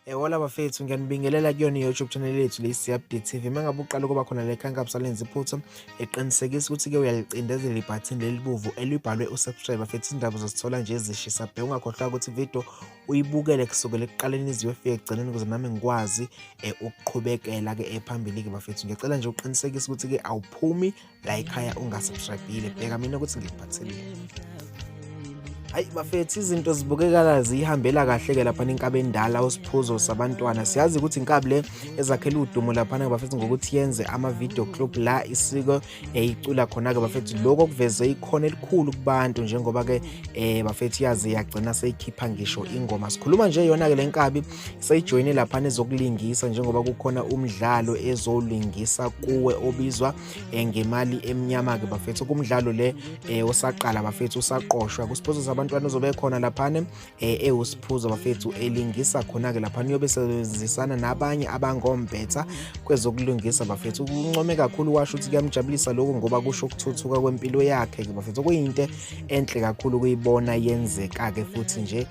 Yawona bafethu ngiyanibingelela kuyona i-YouTube channel yethu le Siyabdi TV. Mangabe uqala ukuba khona le khanka busalenza iphutha, eqinisekisa ukuthi ke uyalicindezela ibutton lelibuvu elibhalwe usubscribe bafethu izindaba zosithola nje ezishisa bhe ungakhohlwa ukuthi video uyibukele kusukela ekuqaleni iziwe efike ekugcineni ukuze nami ngikwazi eh, ukuqhubekela ke ephambili ke bafethu. Ngicela nje uqinisekise ukuthi ke awuphumi la ikhaya ungasubscribile bheka mina ukuthi ngikuphatheleni hayi bafethu izinto zibukekala ziyihambela kahle ke lapha nenkabe endala usiphuzo sabantwana siyazi ukuthi inkabi le ezakhela udumo lapha na bafethu ngokuthi yenze ama video club la isiko eyicula khona ke bafethu lokho kuveze ikhona elikhulu kubantu njengoba ke eh bafethu yazi yagcina seyikhipha ngisho ingoma sikhuluma nje yona ke lenkabi seyijoyine lapha nezokulingisa njengoba kukhona umdlalo ezolingisa kuwe obizwa eh, ngemali emnyama ke bafethu kumdlalo le eh, osaqala bafethu usaqoshwa kusponsors abantwana uzobe khona laphana eh, ewusiphuzo bafethu elingisa khona ke laphana uyobe sebenzisana nabanye abangombetha kwezokulungisa bafethu uncome kakhulu washo ukuthi kuyamjabulisa lokho ngoba kusho ukuthuthuka kwempilo yakhe ke bafethu kuyinto enhle kakhulu kuyibona yenzeka ke futhi nje